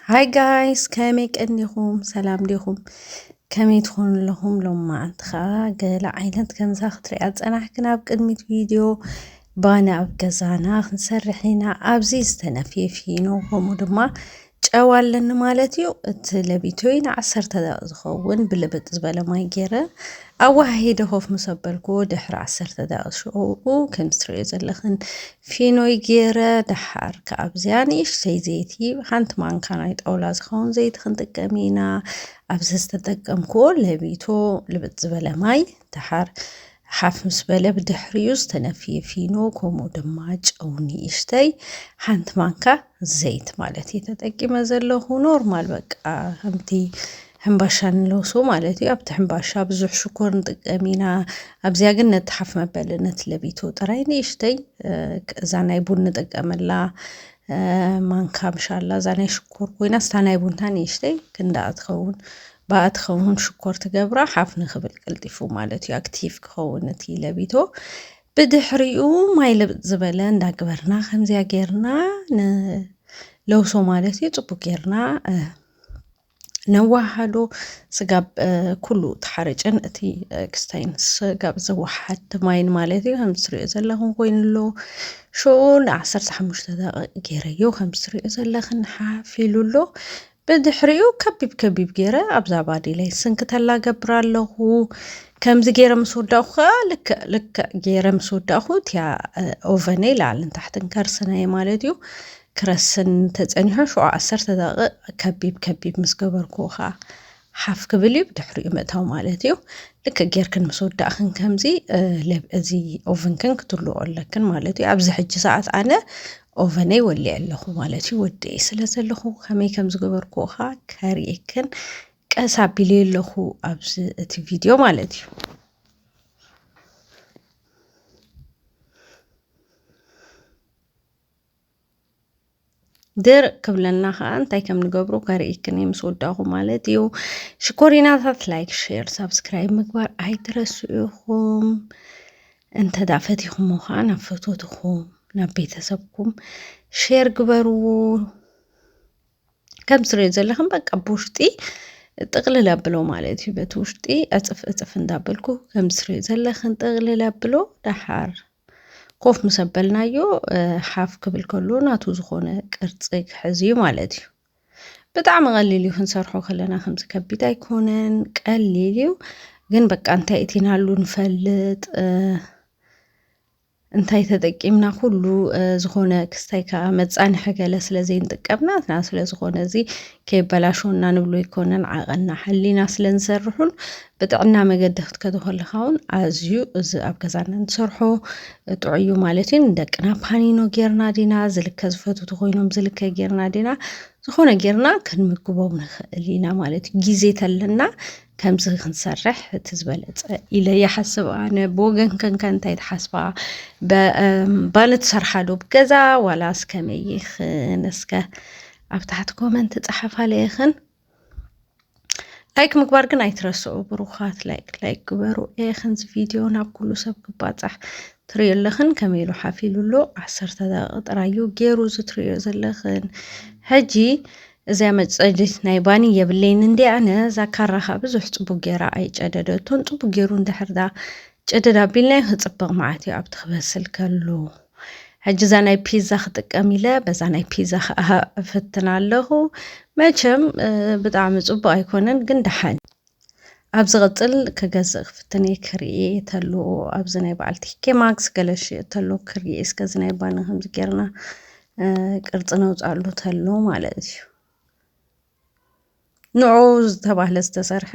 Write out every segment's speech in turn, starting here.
ሃይ ጋይስ ከመይ ቀኒኹም ሰላም ዲኹም ከመይ ትኾኑ ኣለኹም ሎም መዓንቲ ከዓ ገለ ዓይነት ከምዛ ክትሪያ ፀናሕክን ኣብ ቅድሚት ቪድዮ ባና ኣብ ገዛና ክንሰርሕ ኢና ኣብዚ ዝተነፍየ ፊኖ ከምኡ ድማ ጨው ኣለኒ ማለት እዩ። እቲ ለቢቶይ ንዓሰርተ ደቂቕ ዝኸውን ብልብጥ ዝበለ ማይ ገይረ ኣወሃሂደ ኮፍ ምስ ኣበልክዎ ድሕሪ ዓሰርተ ደቂቕ ሽዑኡ ከምዚ ትርእዮ ዘለኽን ፊኖይ ገይረ ደሓር ከዓ ኣብዚኣ ንእሽተይ ዘይቲ ሓንቲ ማንካ ናይ ጣውላ ዝኸውን ዘይቲ ክንጥቀም ኢና። ኣብዚ ዝተጠቀምክዎ ለቢቶ ልብጥ ዝበለ ማይ ደሓር ሓፍ ምስ በለ ብድሕሪኡ ዝተነፍየ ፊኖ ከምኡ ድማ ጨው ንእሽተይ ሓንቲ ማንካ ዘይት ማለት እዩ ተጠቂመ ዘለኹ ኖርማል በቃ ከምቲ ሕምባሻ ንለውሶ ማለት እዩ ኣብቲ ሕምባሻ ብዙሕ ሽኮር ንጥቀም ኢና ኣብዚያ ግን ነቲ ሓፍ መበለ ነቲ ለቢቶ ጥራይ ንእሽተይ እዛ ናይ ቡን ንጥቀመላ ማንካ ምሻላ እዛ ናይ ሽኮር ኮይና ስታ ናይ ቡንታ ንእሽተይ ክንዳኣ ትኸውን ባኣ ትከውን ሽኮር ትገብራ ሓፍ ንክብል ቀልጢፉ ማለት እዩ ኣክቲቭ ክኸውን እቲ ለቢቶ ብድሕሪኡ ማይ ልብጥ ዝበለ እንዳግበርና ከምዚያ ጌርና ንለውሶ ማለት እዩ ፅቡቅ ጌርና ነዋሃዶ ስጋብ ኩሉ ተሓረጨን እቲ ክስታይን ስጋብ ዘወሓድ ማይን ማለት እዩ ከም ትሪኦ ዘለኹም ኮይኑ ኣሎ ሽኡ ንዓሰርተ ሓሙሽተ ደቂቕ ገይረዮ ከም ትሪኦ ዘለኽን ሓፍ ኢሉ ኣሎ ብድሕሪኡ ከቢብ ከቢብ ገይረ ኣብዛ ባዴለይ ስንክተላ ገብር ኣለኹ። ከምዚ ገይረ ምስ ወዳእኹ ከኣ ልክዕ ልክዕ ገይረ ምስ ወዳእኹ እቲያ ኦቨነይ ላዕልን ታሕትን ከርስነየ ማለት እዩ። ክረስን ተጸኒሖ ሽዑ ዓሰርተ ደቂቕ ከቢብ ከቢብ ምስ ገበርኩ ከኣ ሓፍ ክብል እዩ ብድሕሪኡ ምእታው ማለት እዩ ልክ ጌርክን ምስ ወዳእክን ከምዚ እዚ ኦቨንክን ክትልኦ ኣለክን ማለት እዩ ኣብዚ ሕጂ ሰዓት ኣነ ኦቨነይ ወሊዐ ኣለኹ ማለት እዩ ወዲኤ ስለ ዘለኹ ከመይ ከም ዝገበርኩ ኸዓ ከርእየክን ቀስ ኣቢለ ኣለኹ ኣብዚ እቲ ቪድዮ ማለት እዩ ድርቅ ክብለና ከዓ እንታይ ከም ንገብሩ ከርእይክን ምስ ወዳኹ ማለት እዩ። ሽኮሪናታት ላይክ፣ ሼር፣ ሳብስክራይብ ምግባር ኣይትረስኡ ኢኹም። እንተ ደኣ ፈቲኹሞ ኸኣ ናብ ፈተትኹም ናብ ቤተሰብኩም ሼር ግበርዎ። ከም ትሪኦ ዘለኹም በቃ ብውሽጢ ጥቕልል ኣብሎ ማለት እዩ። በቲ ውሽጢ ዕፅፍ ዕፅፍ እንዳበልኩ ከም ትሪኦ ዘለኽን ጥቕልል ኣብሎ ደሓር ኮፍ ምስ ኣበልናዮ ሓፍ ክብል ከሎ ናቱ ዝኾነ ቅርፂ ክሕዝ እዩ ማለት እዩ። ብጣዕሚ ቀሊል እዩ ክንሰርሖ ከለና ከምዚ ከቢድ ኣይኮነን ቀሊል እዩ ግን በቃ እንታይ እቲናሉ ንፈልጥ እንታይ ተጠቂምና ኩሉ ዝኾነ ክስታይ ከዓ መፃንሒ ገለ ስለ ዘይንጥቀምናትና ስለ ዝኾነ እዚ ከይበላሸወና ንብሎ ይኮነን ዓቐና ሓሊና ስለ ንሰርሑን ብጥዕና መገዲ ክትከዶ ከለኻ እውን ኣዝዩ እዚ ኣብ ገዛና ንሰርሖ ጥዑይ እዩ ማለት እዩ ንደቅና ፓኒኖ ጌርና ዲና ዝልከ ዝፈትው ተኮይኖም ዝልከ ጌርና ዲና ዝኾነ ጌርና ክንምግቦም ንኽእል ኢና ማለት እዩ ግዜ ተለና ከምዚ ክንሰርሕ እቲ ዝበለፀ ኢለ ይሓስብ ኣነ ብወገን ከንከ እንታይ ትሓስባ ባኒ ትሰርሓ ዶ ብገዛ ዋላስ ከመይ ይኽን እስከ ኣብ ታሕቲ ኮመንት ፀሓፋለይኽን ላይክ ምግባር ግን ኣይትረስዑ ብሩኻት ላይክ ላይክ ግበሩ ኤ ክንዚ ቪድዮ ናብ ኩሉ ሰብ ክባፃሕ ትሪዮ ኣለኽን ከመይ ኢሉ ሓፊሉ ኣሎ ዓሰርተ ደቂቕ ጥራዩ ገይሩ እዚ ትሪዮ ዘለኽን ሕጂ እዚያ መፀድት ናይ ባኒ የብለይን እንዲ ኣነ እዛ ካራኻ ብዙሕ ፅቡቅ ገይራ ኣይጨደደቶን ፅቡቅ ገይሩ እንድሕርዳ ጨደዳ ኣቢልናዮ ክፅብቕ መዓት እዩ ኣብቲ ክበስል ከሉ ሕጂ እዛ ናይ ፒዛ ክጥቀም ኢለ በዛ ናይ ፒዛ ከዓ እፍትን ኣለኹ መቸም ብጣዕሚ ፅቡቅ ኣይኮነን ግን ደሓን ኣብ ዝቕፅል ክገዝእ ክፍትን እየ ክርኢ ተሎ ኣብዚ ናይ በዓል ቲኬ ማክስ ገለ ሽየጥ ተሎ ክርኢ እስከ እዚ ናይ ባኒ ከምዚ ጌርና ቅርፂ ነውፅኣሉ ተሎ ማለት እዩ ንዑ ዝተባህለ ዝተሰርሐ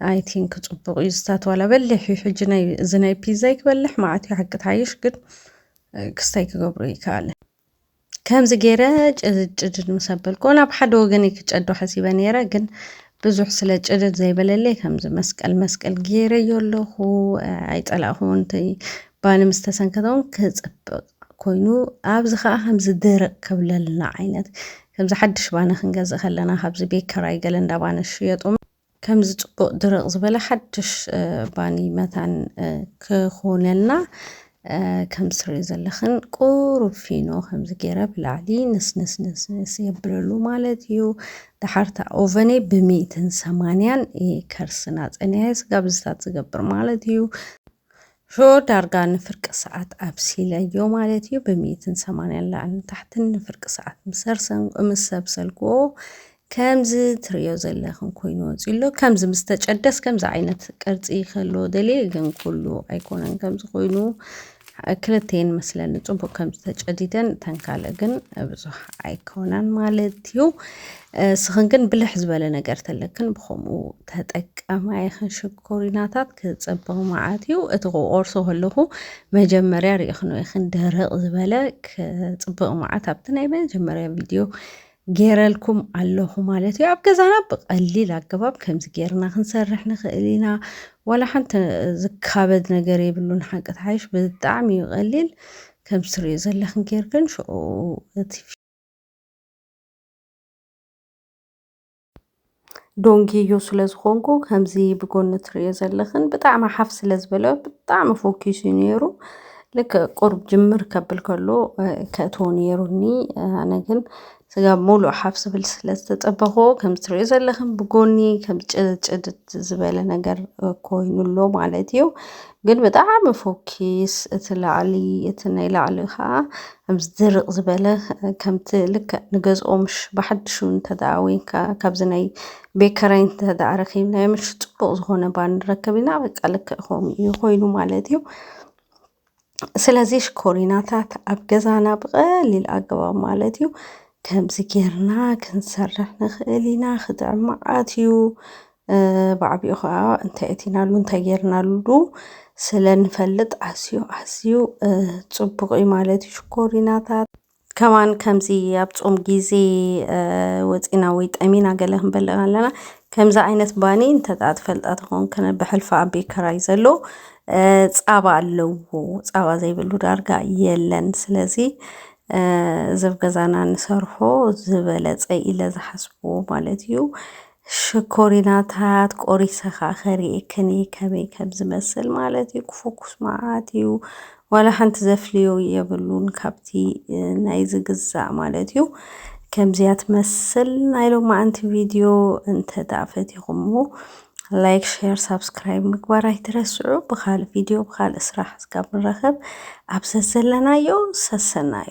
ኣይ ቲንክ ፅቡቅ እዩ ዝታትዋላ በሊሕ እዩ ሕጂ ናይ እዚ ናይ ፒዛ ይክበልሕ መዓት እዩ ሓቂ ትሓይሽ ግን ክስታይ ክገብሩ ይከኣለ ከምዚ ገይረ ጭድጭድድ ምስ ኣበልኩ ናብ ሓደ ወገን ክጨዶ ሓሲበ ነይረ ግን ብዙሕ ስለ ጭድድ ዘይበለለይ ከምዚ መስቀል መስቀል ገይረዮ ኣለኹ ኣይፀላእኹ እንተይ ባኒ ምስ ተሰንከተውን ክፅብቅ ኮይኑ ኣብዚ ከኣ ከምዚ ድርቅ ክብለልና ዓይነት ከምዚ ሓድሽ ባኒ ክንገዝእ ከለና ካብዚ ቤት ከራይ ገለ እንዳ ባኒ ዝሽየጡ ከምዚ ጽቡቅ ድርቅ ዝበለ ሓድሽ ባኒ መታን ክኾነልና ከም ትሪኦ ዘለኽን ቁሩብ ፊኖ ከምዚ ገይረ ብላዕሊ ንስንስንስንስ የብለሉ ማለት እዩ ድሓርታ ኦቨነይ ብሚእትን ሰማንያን ከርስና ጸኒሐ ስጋ ብዝታት ዝገብር ማለት እዩ ሽዑ ዳርጋ ንፍርቂ ሰዓት ኣብሲለዮ ማለት እዩ። ብሚእትን ሰማንያን ላዕልን ታሕትን ንፍርቂ ሰዓት ምስ ሰርሰን ምስ ሰብሰልክዎ ከምዚ ትርእዮ ዘለኽን ኮይኑ ወጺኡ ኣሎ። ከምዚ ምስ ተጨደስ ከምዚ ዓይነት ቅርጺ ክህልዎ ደልየ ግን ኩሉ ኣይኮነን ከምዚ ኮይኑ ክልተን መስለኒ ጽቡቅ ከም ዝተጨዲደን እተን ካልእ ግን ብዙሕ ኣይኮናን ማለት እዩ። እስኽን ግን ብልሕ ዝበለ ነገር ተለክን ብከምኡ ተጠቀማ ይኽን ሽግ ኮሪናታት ክጸብቕ መዓት እዩ እቲ ክቆርሶ ከለኹ መጀመርያ ርኢኽኖ ኢኽን ደረቕ ዝበለ ክጽብቕ መዓት ኣብቲ ናይ መጀመርያ ቪድዮ ጌረልኩም ኣለኹ ማለት እዩ ኣብ ገዛና ብቐሊል ኣገባብ ከምዚ ጌርና ክንሰርሕ ንኽእል ኢና ዋላ ሓንቲ ዝካበድ ነገር የብሉን ሓቂ ተሓይሽ ብጣዕሚ እዩ ቀሊል ከም ትሪኦ ዘለኽን ጌርክን ሽዑ እቲ ዶንግዩ ስለ ዝኾንኩ ከምዚ ብጎኒ ትርእዮ ዘለኽን ብጣዕሚ ሓፍ ስለ ዝበለ ብጣዕሚ ፎኪሱ እዩ ነይሩ። ልክ ቁሩብ ጅምር ከብል ከሎ ከእትዎ ነይሩኒ ኣነ ግን ስጋ ሙሉእ ሓፍ ዝብል ስለ ዝተጸበኹ ከምዚ ትርእዮ ዘለኽን ብጎኒ ከም ጭድጭድድ ዝበለ ነገር ኮይኑ ኣሎ ማለት እዩ። ግን ብጣዕሚ ፎኪስ እቲ ላዕሊ እቲ ናይ ላዕሊ ከዓ ከምዚ ድርቅ ዝበለ ከምቲ ልክዕ ንገዝኦምሽ ብሓድሹ እንተደኣ ወይንካ ካብዚ ናይ ቤት ኪራይ እንተደኣ ረኪብናዮምሽ ፅቡቅ ዝኮነ ባኒ ንረክብ ኢና በቃ ልክዕ ከምኡ እዩ ኮይኑ ማለት እዩ። ስለዚ ሽኮሪናታት ኣብ ገዛና ብቀሊል ኣገባብ ማለት እዩ ከምዚ ጌርና ክንሰርሕ ንክእል ኢና ክጥዕም መዓት እዩ። ብዓቢኡ ከኣ እንታይ እቲናሉ እንታይ ጌርናሉ ስለ ንፈልጥ ኣዝዩ ኣዝዩ ጽቡቕ እዩ ማለት እዩ ሽኮሪናታት። ከማን ከምዚ ኣብ ጾም ግዜ ወጺና ወይ ጠሚና ገለ ክንበልዕ ኣለና ከምዚ ዓይነት ባኒ እንተ ደኣ ትፈልጣ ተኾንክን ብሕልፊ ኣብ ቤት ክራይ ዘሎ ጻባ ኣለዎ ጻባ ዘይብሉ ዳርጋ የለን ስለዚ እዚ ኣብ ገዛና ንሰርሖ ዝበለጸ ኢለ ዝሓስቦ ማለት እዩ ሽኮሪናታት ቆሪሰ ከኣ ከሪኤክን እየ ከመይ ከም ዝመስል ማለት እዩ ክፎኩስ መዓት እዩ ዋላ ሓንቲ ዘፍልዮ የብሉን ካብቲ ናይ ዝግዛእ ማለት እዩ ከምዚያ ትመስል ናይ ሎማዓንቲ ቪድዮ እንተ ደኣ ፈቲኹምዎ ላይክ ሼር ሳብስክራይብ ምግባር ኣይትረስዑ ብካልእ ቪድዮ ብካልእ ስራሕ እስካብ ንረኸብ ኣብ ዘዘለናዮ ሰሰናዩ